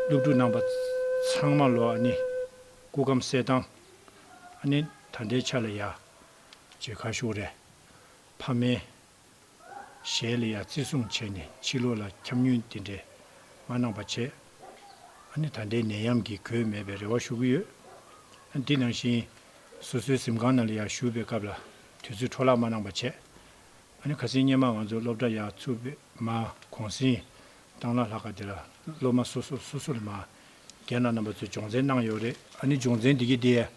སློབ་ཕྲུག་རྣམས་པ་ཚང་མ་ལོ་ནི་སྐུ་ཁམས་གསལ་བཏང། ནི་ད་ལྟའི་ཆ་ལ་ཡ། ཇི་ཁ་ཤོག་རེད། ཕ་མའི། གཞལ་ཡས་བརྩི་སྲུང་བྱས་ནས་ཕྱི་ལོགས་ལ་འཁྱམས་ཉུལ་དེ་འདྲས་མ་གནང་བ་བྱས། ཨ་ནི་ད་ལྟའི་ནད་ཡམས་ཀྱིས་གོས་མེད་པའི་རེ་བ་ཞུ་གི་ཡོད། འདི་ནང་བཞིན། སོ་སོའི་གཟིམ་ཁང་ནང་ལ་ཡར་བཞུགས་པའི་སྐབས་ལ་དུས་ཚོད་འཕྲོ་བརླག་མ་གནང་བ་བྱས། ཨ་ནི་ཁ་སེང་སྙེ་མ་ང་ཚོ་སློབ་གྲྭ་ཡག་ཚུགས་པའི་མ་གོང་སེང་གཏང་ལ་ལྷག་ག་དེ་ལ་སློབ་མ་སོ་སོ་སོ་སོ་ལ་མ་རྒན་ལགས་རྣམ་པ་ཚོས་སྦྱོང་བརྩན་གནང་ཡོད་རེད། ཨ་ནི་སྦྱོང་བརྩན་འདི་གི་དེ།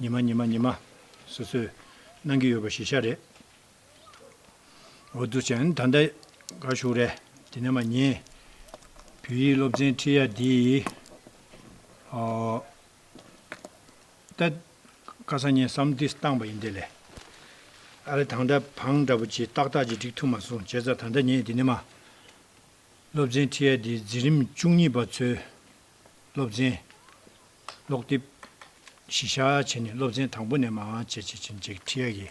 ཉི་མ་ཉི་མ་ཉི་མ། སོ་སོས་གནང་གི་ཡོད་པ་ཞིག་ཤ་རེད། འོ་ཏུ་ཅན་ད་ལྟ་ག་བཞུགས་རེད་དེ་ནས་མ་ཉེས། བོད་ཡིག་སློབ་ཚན་ཁྲིད་ཡ་འདི་ཨོ། ད་ཀ་ས་ཉན་བསམ་འདི་བཏང་བ་ཡིན་དེ་ལས། ཨ་རེ་དང་འདྲ་བང་འདྲ་པོ་ཅི་ཏག་ཏག་ཅིག་བསྒྲིགས་ཐུབ་མ་སོང་བྱས་ཙང་ད་ལྟ་ཉེས་དེ་ནས་མ། སློབ་ཚན་ཁྲིད་ཡ་འདི་འཛིན་རིམ་བཅུ་གཉིས་པ་ཚོའི་སློབ་ཚན། ཀློག་དེབ། གཞི་བཞག་བྱས་ནས་སློབ་ཚན་དང་པོ་ནས་མ་བྱས་བྱས་བྱས་བྱས་ཁྲིད་ཡ་གི་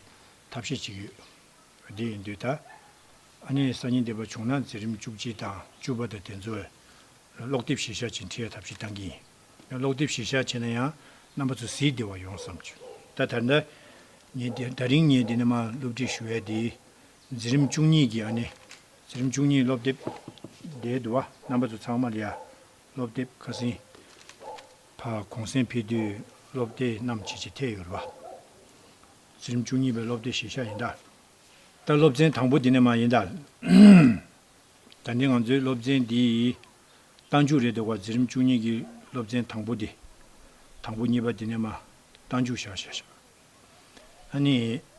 ཐབས་ཤེས་གཅིག་ཡོད། དེ་ཡིན་དུས་ད། ཨ་ནེ་ཡི་སང་ཉིན་འདས་པ་བྱུང་ན་འཛིན་རིམ་བཅུ་གཅིག་དང་བཅུ་པ་དང་དེ་ཚོ། ཀློག་དེབ་ཞེ་བཞག་བྱེད་འཁྲི་ཡ་ཐབས་ཤེས་བཏང་གི་ཡིན། ཀློག་དེབ་ཞེ་བཞག་བྱས་ན་ཡང་རྣམ་པ་ཚོ་ཟིག་བདེ་བ་ཡོང་བསམ་བྱོས། ད་ཐར་འདའ། ངས་འདི་ད་རིང་ངས་འདི་ནས་མ་སློབ་ཁྲིད་ཞུ་བས་འདི། འཛིན་རིམ་བཅུ་གཉིས་ཀྱི་ཨ་ནེ། འཛིན་རིམ་བཅུ་གཉིས་ཀློག་དེབ། འདའི་དུ་བ་རྣམ་པ་ཚོ་ཚང་མ་ལ་ཡ། སློབ་དེབ་ཁ་སིན། ཕ་གོང་སེང་ཕེ་དུས་སློབ་དེ་རྣམས་ཇེ་ཇེ་འཐད་ཡོད་རེད་བ། ཚེ་རིམ་བཅུ་གཉིས་པའི་སློབ་དེ་བཞེས་ཤག་ཡིན། ད་ལྟ་སློབ་ཚན་དང་པོ་འདི་ནས་མ་ཡིན། ད་ནི་ང་ཚོའི་སློབ་ཚན་འདི་ཡི་རྟ་མཇུག་རེད་འདུག་བ་ཚེ་རིམ་བཅུ་གཉིས་ཀྱི་སློབ་ཚན་དང་པོ་འདི། དང་པོ་གཉིས་པ་འདི་ནས་མ། རྟ་མཇུག་བཞག་བཞག་བཞག། ཨ་ནི།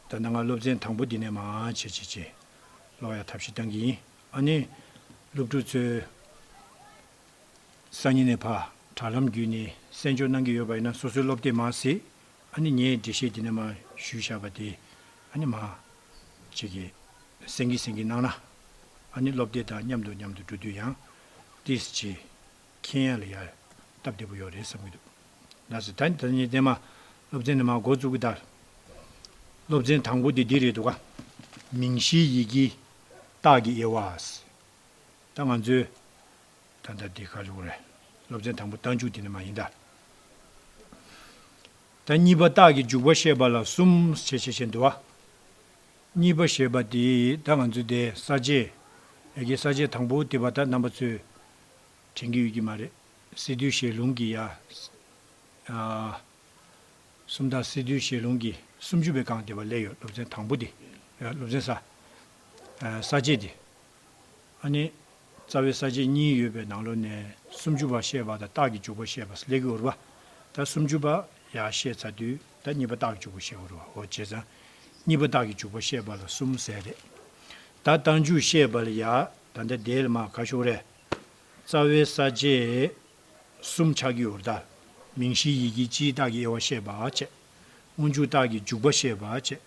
ད་ལྟ་ང་སློབ་ཚན་དང་པོ་འདི་ནས་མ། བྱེད་བྱེད་བྱེད། ཀློག་ཡ་ཐབས་ཤེས་གཏང་གི་ཡིན། ཨ་ནི། སློབ་ཕྲུག་ཚོས། སང་ཉིན་ནས་བར་དྲ་ལམ་བརྒྱུད་ནས་གསན་འཇོག་གནང་གི་ཡོད་པ་ཡིན་ན་སོ་སོའི་སློབ་དེབ་མ་ཟེ། ཨ་ནི་ངས་འགྲེལ་བཤད་འདི་ནས་མ་ཞུས་བཞག་པ་དེ་ཨ་ནི་མ། བྱེད་ཀྱི། སེང་གེ་སེང་གེ་གནང་ན། ཨ་ནི་བློ་བདེ་དང་མཉམ་དུ་མཉམ་དུ་འགྲོ་དུས་ཡང། ཏིས་ཅི། མཁྱེན་ཡ་ལ་ཡ། སྟབས་བདེ་པོ་ཡོད་རེད་བསམ་གྱི་འདུག། ལ་སི་ད་ནི་ད་ནི་བརྟན་མ། སློབ་ཚན་ནི་མ་འགོ་བཙུགས་གི་ད། སློབ་ཚན་དང་པོ་དེ་འདི་རེད་འདུག་ག། མིང་གཞིའི་ཡི་གེ། རྟགས་ཀྱི་དབྱེ་བ། ད་ང་ཚོའི། ད་ལྟ་འདི་ག་ལུགས་རེད། སློབ་ཚན་དང་པོ་རྟགས་འཇུག་དེ་ནི་མ་ཡིན་ད། ད་གཉིས་པ་རྟགས་ཀྱི་འཇུག་པ་བཤད་པ་ལ་གསུམ་ཞེས་བྱེད་བྱེད་འདུ་བ། གཉིས་པ་ཞེས་པ་དེ་ད་ང་ཚོས་དེ་ས་བཅད། ཡ་གྱལ་ས་བཅད་དང་པོ་དེ་བ་ད་རྣམ་པ་ཚོས་དྲན་གྱི་ཡོད་ཀྱི་མ་རེད། སི་ཏུའི་ཞལ་ལུང་གི་ཡ། གསུམ་དང་སི་ཏུའི་ཞལ་ལུང་གི་སུམ་ཅུ་པའི་སྒང་དེ་བ་ལས་ཡོད་སློབ་ཚན་དང་པོ་དེ། སློབ་ཚན་ས། ས་བཅད་དེ། ཨ་ནི། རྩ་བའི་ས་བཅད་གཉིས་ཡོད་པའི་ནང་ལོ་ནས་སུམ་ཅུ་བ་ཤེས་པ་དང་རྟགས་ཀྱི་འཇུག་པ་ཤེས་པ་སླེ་གི་འུར་བ་དང་སུམ་ཅུ་པ་ཡ་ཤེས་ཚ་དུས་དང་གཉིས་པ་རྟགས་ཀྱི་འཇུག་པ་ཤེས་འུར་བ་འོ་བྱེད་ཚང་གཉིས་པ་རྟགས་ཀྱི་འཇུག་པ་ཤེས་པ་ལ་གསུམ་ཟས་རེད། ད་རྟགས་འཇུག་ཤེས་པ་ལ་ཡ་ད་ལྟ་དེ་ལ་མ་ག་ཤོག་རེ། རྩ་བའི་ས་བཅད་གསུམ་ཆགས་ཀྱི་འུར་རྟགས་མིང་གཞིའི་ཡི་གེའི་སྤྱིའི་རྟགས་ཀྱི་དབྱེ་བ་ཤེས་པ་བྱེད། དབུ་འཇུག་རྟགས་ཀྱི་འཇུག་པ་ཤེས་པ་བྱེད།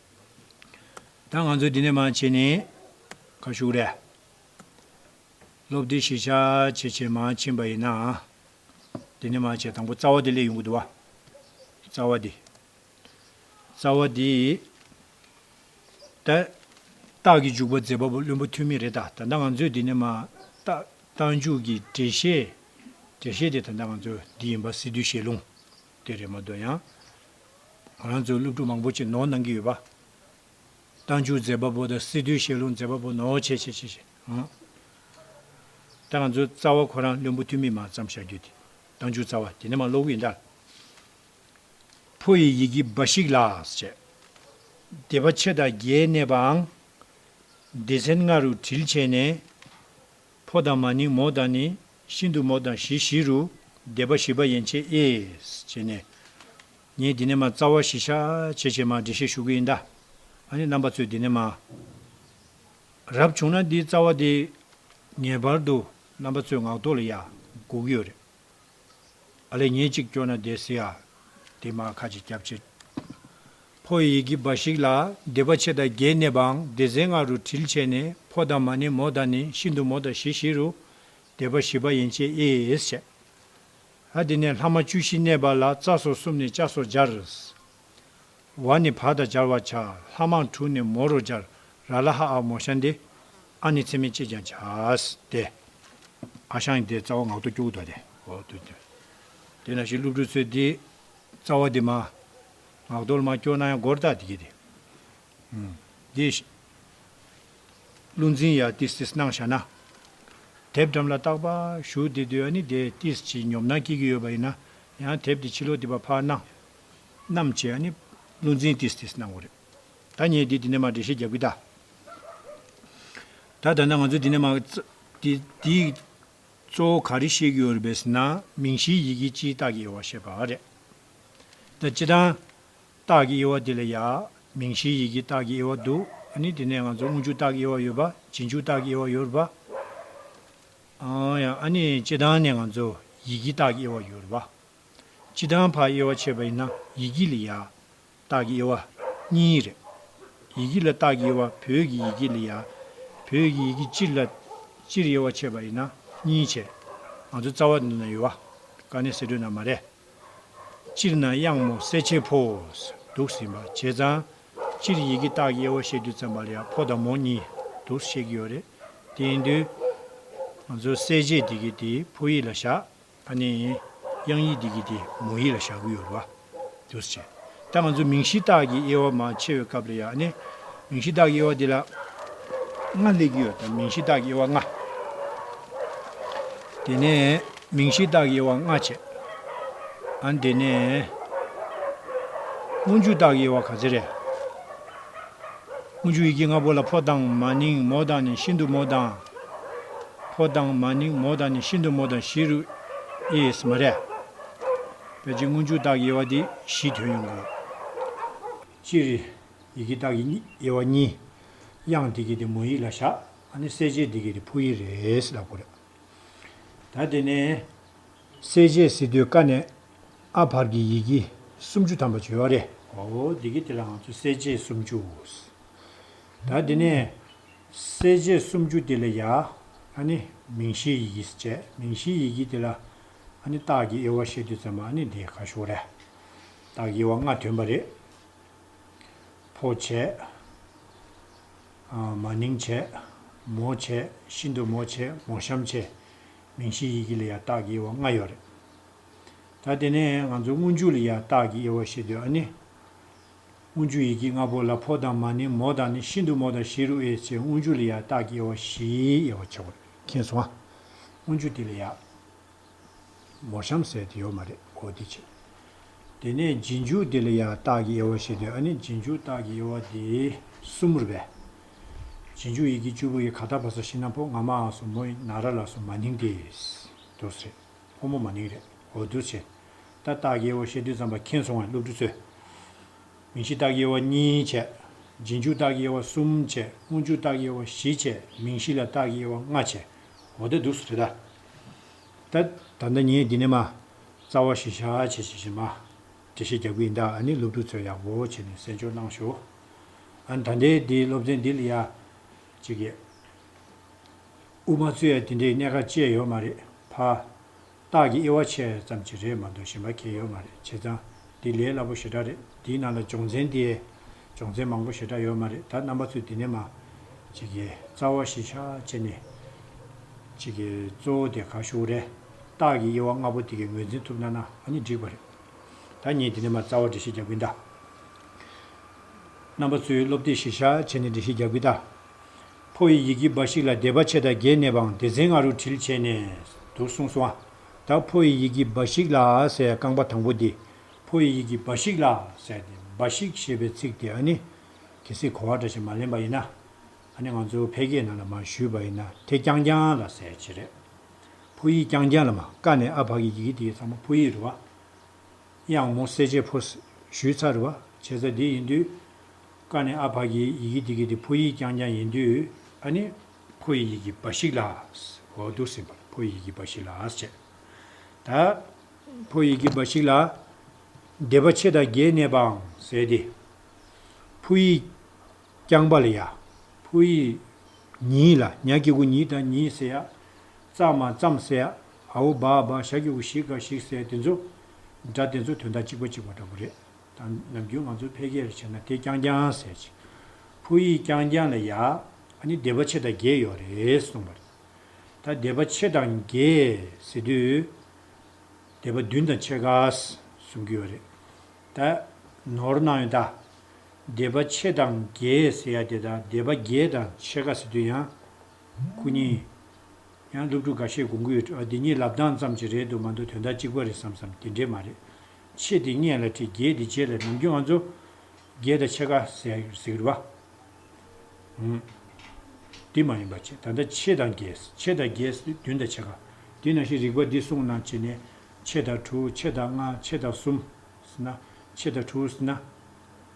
ད་ང་ཚོ་འདི་ནས་མང་བྱས་ནས་ཁ་ཤུགས་རེ། སློབ་དེབ་གཞིས་ཆགས་བྱེད་ཆེད་མང་ཕྱིན་པ་ཡིན་ནའང། འདི་ནས་མང་བྱས་དང་པོ་རྩ་བ་དེ་ལས་ཡོང་གི་འདུག་བ། རྩ་བ་འདི། རྩ་བ་འདི། ད། རྟགས་ཀྱི་འཇུག་པ་མཛད་པ་པོ་བླུན་པོ་ཐོན་མི་རེད་ད་ད་ང་ཚོས་འདི་ནས་མང། རྟགས་འཇུག་གི་འགྲེལ་བཤད། འགྲེལ་བཤད་དེ་ད་ད་ང་ཚོས་འདི་ཡིན་པ་སྲིད་དུས་བཤད་ལུང། དེ་རེད་མ་འདོད་ཡང། ང་རང་ཚོའི་སློབ་ཕྲུག་མང་པོ་ཆེད་ནོར་གནང་གི་ཡོད་པ། གཏམ་རྒྱུད་མཛེས་པ་པོ་དང་སི་ཏུའི་བཤད་ལུང་མཛེས་པ་པོ་ནོར་ཆེ་ཆེ་བྱེད་བཞིན་ཨང། ད་ང་ཚོའི་རྩ་བ་ཁོ་རང་བློན་པོ་ཐུ་མི་མ་བརྩམས་བཞག་རྒྱུ་དེ་གཏམ་རྒྱུད་རྩ་བ་དེ་ནི་མ་ཀློག་གི་ཡིན་དཱ། ཕོ་ཡི་ཡི་གེ་འབའ་ཞིག་ལགས་བྱས། སྡེ་པ་ཕྱེད་དང་བརྒྱད་གནས་པའང། སྡེ་ཚན་ལྔ་རུ་དྲིལ་བྱས་ནས། ཕོ་དང་མ་ནིང་མོ་དང་ནི། ཤིན་ཏུ་མོ་དང་བཞི་བཞི་རུ། བཟླས་པ་བཞི་པ་ཡན་ཆད་ཨེས། བྱས་ནས། ངས་འདི་ནས་མ་རྩ་བ་བཞི་ཤ། བྱས་བྱས་མ་འདྲེ་ཤེས་ཞུགས་ཀྱི་ཨི་འདའ། ཨ་ནི་རྣམ་པ་ཚོས་འདི་ནས་མ། རབ་བྱུང་ན་འདིའི་རྩ་བ་དེ། ངེས་པར་དུ། རྣམ་པ་ཚོས་ངག་ཐོག་ལ་ཡ། འགུགས་ཀྱི་ཡོད་རེད། ཨ་ལེ་ཉིན་གཅིག་སྐྱོ་ན་བསྡད་སྲིད་ཨ། དེ་མ་ཁ་ཅིག་སྐྱབས་བྱེད། ཕོ་ཡི་ཡི་གེ་འབའ་ཞིག་ལ་སྡེ་པ་ཕྱེད་དང་བརྒྱད་གནས་པའང་སྡེ་ཚན་ལྔ་རུ་དྲིལ་བྱས་ནས་ཕོ་དང་མ་ནི་མོ་དང་ནི་ཤིན་ཏུ་མོ་དང་བཞི་བཞི་རུ་སྡེ་པ་བཞི་པ་ཡན་ཆད་ཨིས་བྱས། ཨ་དེ་ནས་ལྷག་མ་བཅུ་བཞི་གནས་པ་ལ་རྩ་སོགས་གསུམ་ནས་ལྕགས་སོགས་སྦྱར། བ་ནི་བ་དང་སྦྱར་བར་བྱ། ལྷ་མང་དྲུག་ནི་མོ་རུ་སྦྱར། ར་ལ་ཧ་ཨ་མོ་ཤ་འདི། ཨ་ནི་ཚེ་མེད་ཅེས་ཀྱང་བྱ། སྟེ། ཨ་ཤང་ཡི་དེ་རྩ་བ་ངག་ཏུ་སྐྱུག་བདོ་སྟེ། དེ་ན་བཞིན་བསླུ་བྲུལ་ཚོལ་འདི། རྩ་བ་འདི་མ། ངག་རྡོལ་མ་སྐྱོ་ན་ཡང་སྒོར་བཏགས་འདི་སྐྱེ་སྟེ། འདི། བསླུ་འཛིན་ཡ་ཏིས་ཏིས་སྣང་བྱ་ན། དེབ་འགྲམ་ལ་བཏགས་པ་གཞུག་འདི་དུས་ཨ་ནི་དེ་ཏིས་ཀྱི་ཉོབ་སྣང་སྐྱེ་གི་ཡོད་པ་ཡིན་ན་ཡང་དེབ་དེ་ཕྱི་ལོག་འདི་པ་ཕར་སྣང། རྣམས་བྱས་ནས་བློ་འཛིན་ཏིས་ཏིས་གནང་བ་རེད། ད་ངས་དེ་འདི་ནས་མ་འདྲེ་ཤེས་རྒྱབ་གི་ད། ད་ད་ནང་ང་ཚོ་འདི་ནས་མ་འདི་འདི་གཙོ་བོ་ག་རེ་ཤེས་གི་ཡོད་རེད་པས་ན་མིང་གཞིའི་ཡི་གེ་སྤྱིའི་རྟགས་ཀྱི་དབྱེ་བ་ཤེས་པ་རེད། ད་སྤྱི་དང། རྟགས་ཀྱི་དབྱེ་བ་དེ་ལ་ཡག་མིང་གཞིའི་ཡི་གེ་རྟགས་ཀྱི་དབྱེ་བ་འདུག་ཨ་ནི་དེ་ནས་ང་ཚོ་དངུལ་ཆུ་རྟགས་ཀྱི་དབྱེ་བ་ཡོད་པ་བྱིན་ཆུ་རྟགས་ཀྱི་དབྱེ་བ་ཡོད་རེད་པ། ཨ་ཡང་ཨ་ནི་སྤྱི་དང་ནས་ང་ཚོ་ཡི་གེ་རྟགས་ཀྱི་དབྱེ་བ་ཡོད་རེད་པ། སྤྱི་དང་བ་དབྱེ་བ་ཕྱེད་པ་ཡིན་ན་ཡི་གེ་ལ་ཡཀྟག་གི་དབྱེ་བ། གཉིས་རེད། ཡི་གེ་ལ་རྟགས་ཀྱི་དབྱེ་བ་བོད་ཀྱི་ཡི་གེ་ལ་ཡཀབོད་ཀྱི་ཡི་གེ་སྤྱིར་ལ། སྤྱིར་དབྱེ་བ་ཕྱེད་པ་ཡིན་ན་གཉིས་བྱེད། ང་ཚོ་རྩ་བ་འདི་ན་ཡོད། བ་ཀ་ནས་གསེད་བྲོས་ན་མ་རེད། སྤྱིར་ན་དབྱངས་མོ་གསེད་བྱེད་ཕོ། དུག་ཟིན་པ་བྱས་ཙང། སྤྱིར་ཡི་གེ་རྟགས་ཀྱི་དབྱེ་བ་བཤད་དུས་ཙམ་པ་ལ་ཡཀ་ཕོ་དང་མོ་གཉིས་དུག་བཤད་ཀྱི་ཡོད་རེད། དེ་ཡིན་དུས། ང་ཚོ་གསལ་བྱེད་འདི་གི་དེའི་ཕོ་ཡིག་ལ་བཞག། ཨ་ནེ། དབྱངས་ཡིག་འདི་གི་དེ་མོ་ཡིག་ལ་བཞག་གི་ཡོད་རེད་བ། འདུག་བྱས། ད་ང་ཚོ་མིང་གཞི་རྟགས་ཀྱི་དབྱེ་བ་མང་ཆེ་བའི་སྐབས་ལ་ཡང་ཨ་ནེ། མིང་གཞི་རྟགས་ཀྱི་དབྱེ་བ་འདི་ལ། ལྔ་སླེབས་ཀྱི་ཡོད་དམ་མིང་གཞི་རྟགས་ཀྱི་དབྱེ་བ་ལྔ། དེ་ནས། མིང་གཞི་རྟགས་ཀྱི་དབྱེ་བ་ལྔ་བྱས། ཨ་དེ་ནས། སྔོན་འཇུག་རྟགས་ཀྱི་དབྱེ་བ་ག་ཚད་རེད། སྔོན་འཇུག་ཡི་གེ་ལྔ་པོ་ལ་ཕོ་དང་མ་ནིང་མོ་དང་ནི་ཤིན་ཏུ་མོ་དང། ཕོ་དང་མ་ནིང་མོ་དང་ནི་ཤིན་ཏུ་མོ་དང་བཞི་རུ་ཨིས་མ་རེ། པའི་སྤྱི་དངོས་མཇུག་རྟགས་ཀྱི་དབྱེ་བ་དེ་བཞིས་དོན་ཡོང་གི་ཡོད། སྤྱིར། ཡི་གེ་རྟགས་ཀྱི་དབྱེ་བ་གཉིས། དབྱངས་དེ་གའི་དེ་མོ་ཡིག་ལ་བཞག་ཨ་ནི་གསལ་བྱེད་དེ་གའི་དེ་ཕོ་ཡིག་རེད་ལབ་དགོས་རེད། ད་དེ་ནས། གསལ་བྱེད་སི་ཏུའི་ཀ་ནས་ཨ་བར་གྱི་ཡི་གེ་སུམ་ཅུ་ཐམ་པ་བརྗོད་པ་རེད། བའོ། དེ་གའི་དེ་ལའང་ཚུལ་གསལ་བྱེད་སུམ་ཅུ། ད་དེ་ནས། གསལ་བྱེད་སུམ་ཅུ་དེ་ལ་ཡང། ནི། མིང་གཞིའི་ཡི་གེ་སྤྱད། མིང་གཞིའི་ཡི་གེ་དེ་ལ། ནི། རྟགས་ཀྱི་དབྱེ་བ་བཤད་དུས་ཙམ་མ་ནི་དེ་ག་ཞོག་རེ། རྟགས་ཀྱི་དབྱེ་བ་ལྔ་ཐོན་པ་རེད། འཕོ་བྱེད། མ་ནིང་བྱེད། མོ་བྱེད། ཤིན་ཏུ་མོ་བྱེད་མོ་གཤམ་བྱེད། མིང་གཞིའི་ཡི་གེ་ལ་ཡང་རྟགས་ཀྱི་དབྱེ་བ་ལྔ་ཡོད་རེད། ད་དེ་ནས་ང་ཚོ་སྔོན་འཇུག་ལ་ཡང་རྟགས་ཀྱི་དབྱེ་བ་བཤད་དུས་ནི། དབུ་འཇུག་ཡི་གེ་ལྔ་པོ་ལ་ཕོ་དང་མ་ནི་མོ་དང་ནི་ཤིན་ཏུ་མོ་དང་ཤེས་རུ་དབྱེ་བྱེད་དབུ་འཇུག་ལ་ཡང་རྟགས་ཀྱི་དབྱེ་བ་བཞིའི་དབྱེ་བ་ཕྱེ་བར་མཁྱེན་སོང་ང། དབུ་འཇུག་འདི་ལ་ཡང། མོ་གཤམ་གསལ་དེ་ཡོད་མ་རེད་གོ་འདི་བྱེད། དེ་ནས་སྦྱིན་འཇུག་འདི་ལ་ཡང་རྟགས་ཀྱི་དབྱེ་བ་བཞི་སྟེ་ཨ་ནི་སྦྱིན་འཇུག་རྟགས་ཀྱི་དབྱེ་བ་འདི་གསུམ་མུར་བས། སྦྱིན་འཇུག་ཡི་གེ་བཅུ་པོ་ཡི་ག་དག་པ་སོ་ཤིང་ན་ཕོ་ང་མའང་སོ་མོ་ཡི་ན་ར་ལ་སོ་མ་ནིང་དེས། དུས་རེད། ཕོ་མོ་མ་ནིང་རེད་གོ་འདུ་བྱེད། ད་སྟག་གཡས་བོ་བཤད་དུས་རྩམ་པ་ཁེངས་སོང་བས་སློབ་ཕྲུག་ཚོས། མིང་གཞི་སྟག་གཡས་བོ་གཉིས་བྱས། རྗེས་འཇུག་སྟག་གཡས་བོ་གསུམ་བྱས། དངོས་འཇུག་སྟག་གཡས་བོ་བཞི་བྱས། མིང་གཞི་ལ་སྟག་གཡས་བོ་ལྔ་བྱས། འོ་དེ་སྡུག་སུ་རེད་ད། ད་ད་ལྟ་ངས་འདི་ནས་མ། རྩ་བ་བཞི་བྱ་བྱེད་བྱེད་བྱེད་མ། འགྲེལ་བཤད་རྒྱག་གི་ཡིན་ད་ཨ་ནི་སློབ་ཕྲུག་ཚོས་ཡག་པོ་བྱས་ནས་གསན་འཇོག་གནང་ཞོག་ཨ་ནི་ད་འདི་འདི་སློབ་ཚན་འདི་ལ་ཡ། ཅིག་ཡས། དབུ་མ་བཙུད་ཡས་དེ་འདྲའི་གནད་ཀ་བཅས་ཡོད་མ་རེད་ཕ། རྟགས་ཀྱི་དབྱེ་བ་ཕྱེ་ཙམ་གྱི་རེད་མ་འདུག་ཞེན་པ་ཁྱེད་ཡོད་མ་རེད་བྱས་ཙང་འདི་ལས་སླ་པོ་ཞེ་དྲག་རེད་འདིའི་ནང་ལ་སྦྱོང་ཚན་དེ་སྦྱོང་ཚན་མང་པོ་ཞེ་དྲག་ཡོད་མ་རེད་ད་རྣམ་པ་ཚོས་འདི་ནས་མ། གཅིག་གི་རྩ་བ་བཞི་ཆ་བྱས་ནས། གཅིག་གི་གཙོ་བོ་དེ་ག་ཤོག་རེད་རྟགས་ཀྱི་དབྱེ་བ་ལྔ་པོ་དེ་གས་ངོས་འཛིན་ཐུབ་ན་ན་ཨ་ནི་འགྲིག་པ་རེད་ད་ངས་འདི་ནས་མ་རྩ་བ་འགྲེལ་བཤད་རྒྱག་གི་གདའ། རྣམ་པ་ཚོས་སློབ་དེབ་བཞི་ཆ་བྱས་ནས་འགྲེལ་བཤད་རྒྱག་གི་གདའ། ཕོ་ཡི་ཡི་གེ་འབའ་ཞིག་ལ་སྡེ་པ་ཕྱེད་དང་བརྒྱད་གནས་པའང་སྡེ་ཚན་ལྔ་རུ་དྲིལ་བྱས་ནས་འདུག་གསུངས་སོ། དང་ཕོ་ཡི་ཡི་གེ་འབའ་ཞིག་ལ་ཟེར་ཡང་རྐང་པ་དང་པོ་འདི། ཕོ་ཡི་ཡི་གེ་འབའ་ཞིག་ལ་ཟེར་ཏེ་འབའ་ཞིག་ཞེས་པའི་ཚིག་དེ་ཨ་ནི། གལ་སྲིད་གོ་བ་འདྲ་ཞིག་མ་ལེན་པ་ཡིན་ན། ཨ་ནི་ང་ཚོ་ཕལ་སྐད་ནང་ལ་མ་ཞུས་པ་ཡིན་ན་དེ་རྐྱང་རྐྱང་ལ་ཟེར་བྱེད་རེད། ཕོ་ཡིག་རྐྱང་རྐྱང་ལ་མ་ཀ་ནས་ཨ་བར་གྱི་ཡི་གེ་དེའི་ཚང་མ་ཕོ་ཡིག་རུ་བ། ཡང་མོ་གསལ་བྱེད་ཕོ། ཞུས་ཚགས་རུ་བ་བྱེད་ཚ་འདི་ཡིན་དུས། བཀའ་ནི་ཨ་ཕ་གི་ཡི་གེ་འདི་གི་དེ་ཕོ་ཡིག་རྐྱང་རྐྱང་ཡིན་དུས་ཨ་ནི། ཕོ་ཡི་ཡི་གེ་འབའ་ཞིག་ལགས། འོ་འདུག་སེམས་པར་ཕོ་ཡི་ཡི་གེ་འབའ་ཞིག་ལགས་བྱས། ད། ཕོ་ཡི་ཡི་གེ་འབའ་ཞིག་ལ། སྡེ་པ་ཆེ་དང་རྒྱའི་གནས་པའང་ཟེར་ཏེ། ཕོ་ཡིག། རྐྱང་པ་ལ་ཡ། ཕོ་ཡིག། ཉིད་ལ་ཉག་སྐྱེ་དགུ་ཉིད་དང་ཉིད་ཟེར་ཡ། ཙག་མ་ཙམ་ཟེར་ཡ། ཨ་བོ་འབའ་འབའ་ཞག་སྐྱེ་དགུ་ཞིག་འགའ་ཞིག་ཟེར་དེ་ཚོ། སྒྲ་དེ་ཚོ་དོན་དག་གཅིག་པ་གཅིག་པ་འདྲ་པོ་རེད། དང། ནམ་རྒྱུན་ང་ཚོ་ཕལ་སྐད་རེ་བྱས་ན་དེ་རྐྱང་རྐྱང་ཟེར་ཅིང། ཕུ་ཡིས་རྐྱང་རྐྱང་ལ་ཡ། ཨ་ནི་སྡེ་པ་ཕྱེད་དང་བརྒྱད་ཡོད་རེད་གསུངས་པ་རེད། ད་སྡེ་པ་ཕྱེད་དང་བརྒྱད་ཟེར་དུས། སྡེ་པ་བདུན་དང་ཕྱེད་ཀ་གསུང་གི་ཡོད་རེད། ད། ནོར་གནང་ཡོད་ད། སྡེ་པ་ཕྱེད་དང་བརྒྱད་ཟེར་ཡ་དེ་དང་སྡེ་པ་བརྒྱད་དང་ཕྱེད་ཀ་ཟེར་དུས་ཡང། སྐུ་ཉིད། ཡང་སློབ་ཕྲུག་འགའ་ཤས་དགོངས་ཀྱི་ཡོད་འདི་གཉིས་ལབ་སྟངས་ཙམ་གྱི་རེད་དུ་མ་འདུག་དོན་དག་གཅིག་པ་རེད་བསམ་བསམ་དེ་འདྲས་མ་རེད། ཕྱེད་དེ་སྙེད་ལ་དྲི་བརྒྱད་དེ་རྗེས་ལ་ནམ་རྒྱུན་ཨ་མཚོ། རྒྱལ་དང་ཕྱེད་ཀ། ཟེགས་རི་བ། འདི་མ་ཡིན་པ་ཕྱེད་ད་ལྟ་ཕྱེད་དང་བརྒྱད། ཕྱེད་དང་བརྒྱད་བདུན་དང་ཕྱེད་ཀ། དེ་ནང་བཞིན་རིག་པ་འདི་གསུངས་ན་ཕྱེད་ནས། ཕྱེད་དང་དྲུག་ཕྱེད་དང་ལྔ་ཕྱེད་དང་གསུམ། ཕྱེད་དང་དྲུག།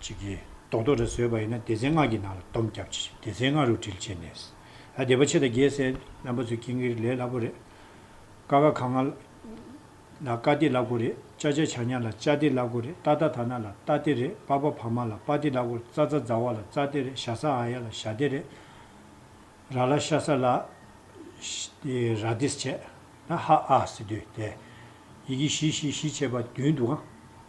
ཅིག་གིས་རྡོག་རྡོག་འདྲ་བཟོས་པ་ཡིན་ན་སྡེ་ཚན་ལྔ་གྱི་ནང་ལ་བསྡོམས་བརྒྱབ་ཅིག་སྡེ་ཚན་ལྔ་རུ་དྲིལ་བྱས་ནས། ཨ་སྡེ་པ་ཆེ་དང་རྒྱས་སྲས་རྣམ་པ་ཚོའི་ཁྱིང་གིར་ལས་སླ་པོ་རེད། ཀ་ཀ་ཁ་ང་ལ་ཀ་སྡེ་སླ་གོ་རེད་ཅ་ཅ་ཆ་ཉ་ལ་ཅ་སྡེ་སླ་གོ་རེད་ཏ་ཏ་ཐ་ན་ལ་ཏ་སྡེ་རེད་པ་པ་ཕ་མ་ལ་པ་སྡེ་སླ་གོ་རེད་ཙ་ཙ་ཛ་བ་ལ་ཙ་སྡེ་རེད་ཞ་ས་ཨ་ཡ་ལ་ཞ་སྡེ་རེད། ར་ལ་ཤ་ས་ལ་ར་སྡེ་བྱས། ཧ་ཨ་སི་དུས་ཏེ། ཡི་གེ་བཞི་བཞི་བཞི་བྱས་པ་བདུན་འདུག་ཨང།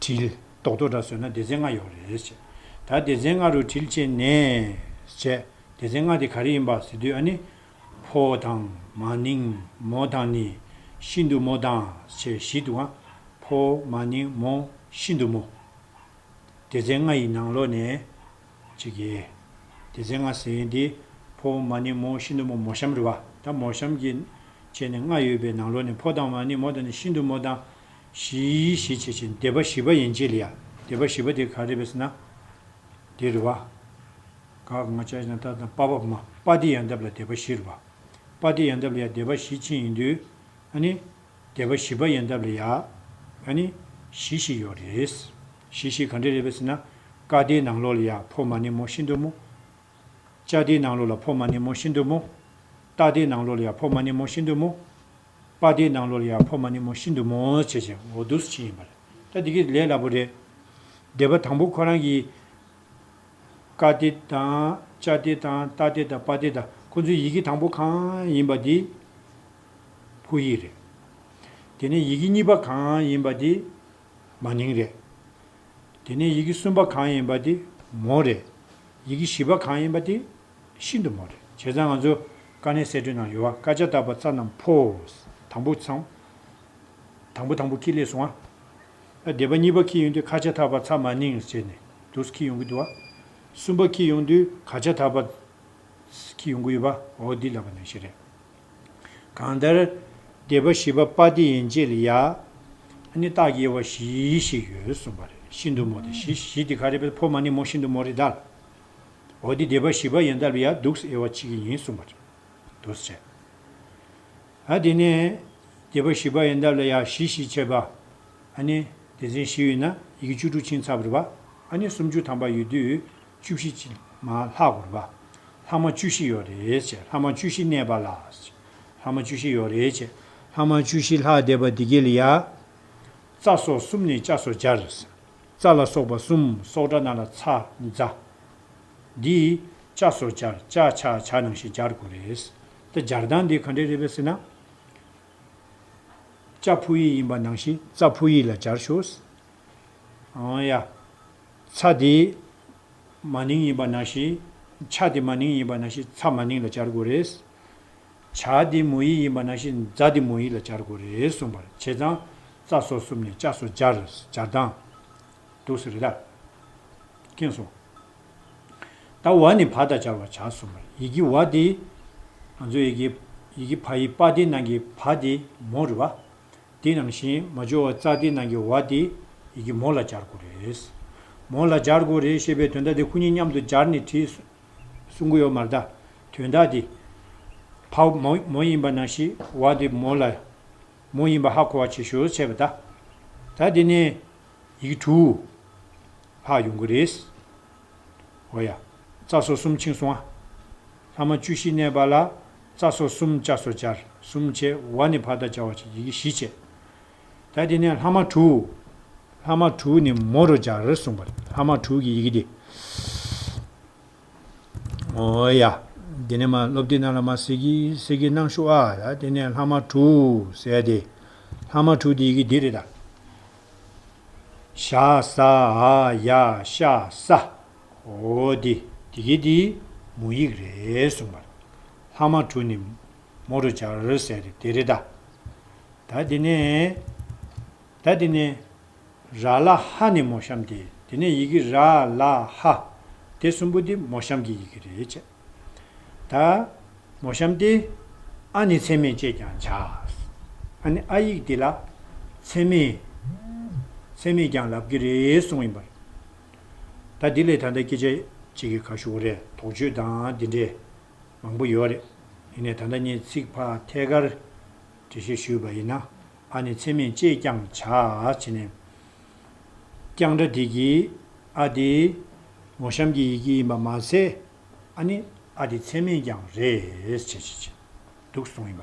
དྲིལ། རྡོག་རྡོག་འདྲ་ཟོས་ན་སྡེ་ཚན་ལྔ་ཡོག་རེད། བྱས། ད་སྡེ་ཚན་ལྔ་རུ་དྲིལ་བྱས་ནས། བྱས། སྡེ་ཚན་ལྔ་དེ་ག་རེ་ཡིན་པ་ཟེར་དུས་ཨ་ནི། ཕོ། དང། མ། ནིང། མོ། དང་ནི། ཤིན་ཏུ་མོ། དང། བྱས་བཞི་འདུག་ཨ། ཕོ། མ། ནིང། མོ། ཤིན་ཏུ་མོ། སྡེ་ཚན་ལྔ་ཡི་ནང་ལོགས་ནས། གཅིག་གི། སྡེ་ཚན་ལྔ་ཟེར་དེ། ཕོ། མ། ནིང། མོ། ཤིན་ཏུ་མོ། མོ་གཤམ་རེད་བ། ད་མོ་གཤམ་གྱི། བྱས་ནས་ལྔ་ཡོད་པའི་ནང་ལོགས་ནས་ཕོ་དང་མ། ནིང། མོ། དང་ནི་ཤིན་ཏུ་མོ། དང། བཞིའི་ཞེས་བྱེད་ཀྱི་སྡེ་པ་བཞི་པ་ཡན་ཆད་ལ་ཡང་སྡེ་པ་བཞི་པ་དེ་ག་རེ་བས་ན། འདི་རུ་བ། ག་ང་ལྕགས་ཡང་དག་དང་པ་བ་མ་པ་ཏི་ཡང་དག་ལ་སྡེ་པ་བཞི་རུ་བ། པ་ཏི་ཡང་དག་ལ་ཡང་སྡེ་པ་བཞི་ཕྱིན་ཡིན་དུས། ཨ་ནི། སྡེ་པ་བཞི་པ་ཡང་དག་ལ་ཡང། ཨ་ནི། བཞི་ཞིག་ཡོད་རེད། བཞི་ཞིག་ག་འདྲ་རེད་བས་ཟེར་ན། ཀ་སྡེའི་ནང་ལོགས་ལ་ཡང་ཕོ་མ་ནི་མོ་བཞི་འདུག་མོ། ལྕགས་སྡེའི་ནང་ལོགས་ལ་ཕོ་མ་ནི་མོ་བཞི་འདུག་མོ། རྟ་སྡེའི་ནང་ལོགས་ལ་ཡང་ཕོ་མ་ནི་མོ་བཞི་འདུག་མོ། པ་དེའི་ནང་ལོགས་ལ་ཡང་ཕོ་མ་ནི་མོ་ཤིན་ཏུ་མོ་འོད་ཆེ་ཞིང་འོ་དོད་སུ་བྱིན་ཡིན་པ་རེད། ད་འདི་གིས་ལས་སླ་པོ་རེད། སྡེ་པ་དང་པོ་ཁོ་རང་གིས། ཀ་སྡེ་དང། ཅ་སྡེ་དང་རྟ་སྡེ་དང་པ་སྡེ་དང་ཁོ་ཚོའི་ཡི་གེ་དང་པོ་གང་ཡིན་པ་དེ། ཕོ་ཡིག་རེད། དེ་ནས་ཡི་གེ་གཉིས་པ་གང་ཡིན་པ་དེ། མ་ནིང་རེད། དེ་ནས་ཡི་གེ་གསུམ་པ་གང་ཡིན་པ་དེ། མོ་རེད། ཡི་གེ་བཞི་པ་གང་ཡིན་པ་དེ། ཤིན་ཏུ་མོ། བྱས་ཙང་ང་ཚོ། དཀའ་གནད་གསེད་བཀྲོལ་ནང་ཡོད་བ་དཀའ་སྤྱད་རྟག་པ་རྩ་རྣམས་འཕོ། དང་པོ་ཚངས། དང་པོ་དང་པོ་ཁྱི་ལས་སོང་བ། སྡེ་པ་གཉིས་པ་ཁྱི་ཡོང་དུས་ཁ་ཆད་ཐག་པ་ཚ་མ་ནིངས་བྱས་ནས་འདུག་ཁྱི་ཡོང་གི་འདུག་བ། གསུམ་པ་ཁྱི་ཡོང་དུས་ག་ཆད་ཐག་པ། ཁྱི་ཡོང་གི་ཡོད་བ་འོ་འདི་ལབ་པ་ནང་ཞིག་རེད། གང་ལྟར། སྡེ་པ་བཞི་པ་པ་ཏི་ཡན་ཅེ་ལི་ཡ། ཨ་ནི་སྟག་གཡེར་བ་བཞི་ཞིག་ཡོད་གསུངས་པ་རེད་ཤིན་ཏུ་མོ་དེ་བཞི་བཞི་དེ་ག་རེད་པས་ཕོ་མ་ནི་མོ་ཤིན་ཏུ་མོ་རེད་ད། འོ་དེ་སྡེ་པ་བཞི་པ་ཡན་དཱ་ལི་ཡ་གདུགས་སུ་དབྱེ་བ་བྱེད་ཀྱི་ཡིན་གསུངས་པ་རེད། དུ་བྱས། ཨ་དེ་ནས། སྡེ་པ་བཞི་པ་ཡན་དཱ་ལི་ཡ་བཞི་ཞེས་བྱས་པ། ཨ་ནི། དེ་མཚན་བཞི་ཡོད་ན་ཡི་གེ་བཅུ་དྲུག་ཕྱིན་ཚར་བར་བ། ཨ་ནི་སུམ་ཅུ་ཐམ་པ་ཡོད་དུས་བཅུ་བཞི་ཕྱིན་མ་ལྷག་བར་བ། ལྷག་མ་བཅུ་བཞི་ཡོད་རེད་བྱས་ལྷག་མ་བཅུ་བཞི་གནས་པ་ལ། ལྷག་མ་བཅུ་བཞི་ཡོད་རེད་བྱས་ལྷག་མ་བཅུ་བཞི་ལྷག་སྡེ་པ་དེ་ཀེ་ལི་ཡ། རྩ་སོགས་གསུམ་ནས་ལྕགས་སོགས་སྦྱར། རྩ་ལ་སོགས་པ་གསུམ་སྲོག་སྒྲ་རྣ་ལ་ཚ། འཛའ། འདི། ལྕ་སོགས་སྦྱར་ལྕ་ཆ་བྱ་ནང་བཞིན་སྦྱར་དགོས་རེད། ད་སྦྱར་སྟངས་འདི་ག་འདྲས་རེད་པས་ཟེར་ན། ལྕ་ཕུག་ཡིག་ཡིན་པ་ནང་བཞིན་རྩ་ཕུག་ཡིག་ལ་སྦྱར་ཞོག། ཨང། ཡ། ཚ་འདི། མ་ནིང་ཡིན་པ་ནང་བཞིན། ཆ་འདི་མ་ནིང་ཡིན་པ་ནང་བཞིན་ཚ་མ་ནིང་ལ་སྦྱར་དགོས་རེད། བྱ་འདི་མོ་ཡིག་ཡིན་པ་ན་ཤིང་རྫ་འདི་མོ་ཡིག་ལ་སྦྱར་དགོས་རེད་གསུངས་པར་བྱས་ཙང། རྩ་སོ་གསུམ་ནས་ལྕགས་སོ་སྦྱར་སྦྱར་སྡང། འདུག་ཟེར་རེད་ད། སྐྱེངས་སོང། ད་བ་ནི་བ་དང་སྦྱར་བར་བྱ་གསུངས་པར་ཡི་གེ་བ་འདི། ང་ཚོའི་ཡི་གེ། ཡི་གེ་བ་ཡི་པ་འདི་ནང་གི་བ་འདི་མོ་རེད་བ། དེ་ནང་བཞིན་མ་འབྱོར་བ་རྩ་འདི་ནང་གི་བ་འདི་ཡི་གེ་མོ་ལ་སྦྱར་དགོས་རེད། མོ་ལ་སྦྱར་དགོས་རེད་ཞེས་པའི་དོན་ད་དེ་ཁོ་གཉིས་མཉམ་དུ་སྦྱར་ནས་བྲིས། གསུང་གི་ཡོད་མ་རྟ། དོན་དག་འདི། ཕ་མོ་མོ་ཡིན་པ་ན་ཤི་བ་དེ་མོ་ལ། མོ་ཡིན་པ་ཧ་གོ་བ་བྱེད་ཞོར་བྱས་པ་ད། ད་དེ་ནས། ཡིག་དྲུག། ལྷག་ཡོང་གི་རེད། འོ་ཡ། རྩ་སོ་གསུམ་ཕྱིན་སོང་ཨ། ལྷག་མ་བཅུ་བཞི་གནས་པ་ལ། རྩ་སོ་གསུམ་བཅའ་སོ་བཅར་གསུམ་བྱས་བ་ནི་ཕ་ད་བཅའ་བ་བྱས་ཡི་གེ་བཞི་བྱས། ད་དེ་ནས་ལྷག་མ་དྲུག། ལྷག་མ་དྲུག་ནི་མོ་རུ་སྦྱར་གསུངས་པ། ལྷག་མ་དྲུག་གི་ཡི་གེ་འདི། ཨོ་ཡ། དེ་ནས་མ་སློབ་སྡེ་རྣམས་ལ་མ་སེར་གྱི་སེར་གྱི་རྣམས་ཞུགས་ཨ། ད་དེ་ནས་ལྷག་མ་དྲུག་ཟད་དེ། ལྷག་མ་དྲུག་གི་ཡི་གེ་འདི་རེ་ད། ཤ་ཟ་ཨ་ཡ་ཤ་ཟ། ཨོ་དེ་དེ་གི་དེ་མོ་ཡིག་རེ་གསུངས་པ། ལྷག་མ་དྲུག་ནི་མོ་རུ་སྦྱར་ཟེར་ཏེ་དེ་རེད་ད། ད་དེ་ནས། ད་དེ་ནས། ར་ལ་ཧ་ནི་མོ་གཤམ་སྟེ་དེ་ནས་ཡི་གེ་ར་ལ་ཧ། དེ་གསུམ་པོ་འདི་མོ་གཤམ་གྱི་ཡི་གེ་རེད་བྱས། ད། མོ་གཤམ་སྟེ། ཨ་ནི་ཚད་མེད་ཅེས་ཀྱང་བྱ། ཨ་ནི་ཨ་ཡིག་དེ་ལ། ཚད་མེད། ཚད་མེད་ཀྱང་ལབ་ཀྱི་རེད་གསུངས་ཡིན་པར། ད་འདི་ལས་ད་ལྟ་སྐད་ཆ་གཅིག་གི་ཁ་ཤོ་བོ་རེ་དོགས་བརྗོད་དང་འདི་འདྲའི། མང་པོ་ཡོད་རེད། དེ་ནས་ད་ལྟ་ངས་ཚིག་ཕ་ཐད་ཀར་འབྲི་ཤེས་ཞུས་པ་ཡིན་ན། ཨ་ནི་ཚེ་མེད་ཅེས་ཀྱང་བྱ། བྱེད་ནས། ཀྱང་སྒྲ་དེ་གྱིས། ཨ་དེ། མོ་གཤམ་གྱི་ཡི་གེ་ཡིན་པ་མ་ཟད། ཨ་ནི། ཨ་དེ་ཚེ་མེད་ཀྱང་རེད། བྱེད། བྱེད། བྱེད། འདུག་གསུངས་ཡིན་པ།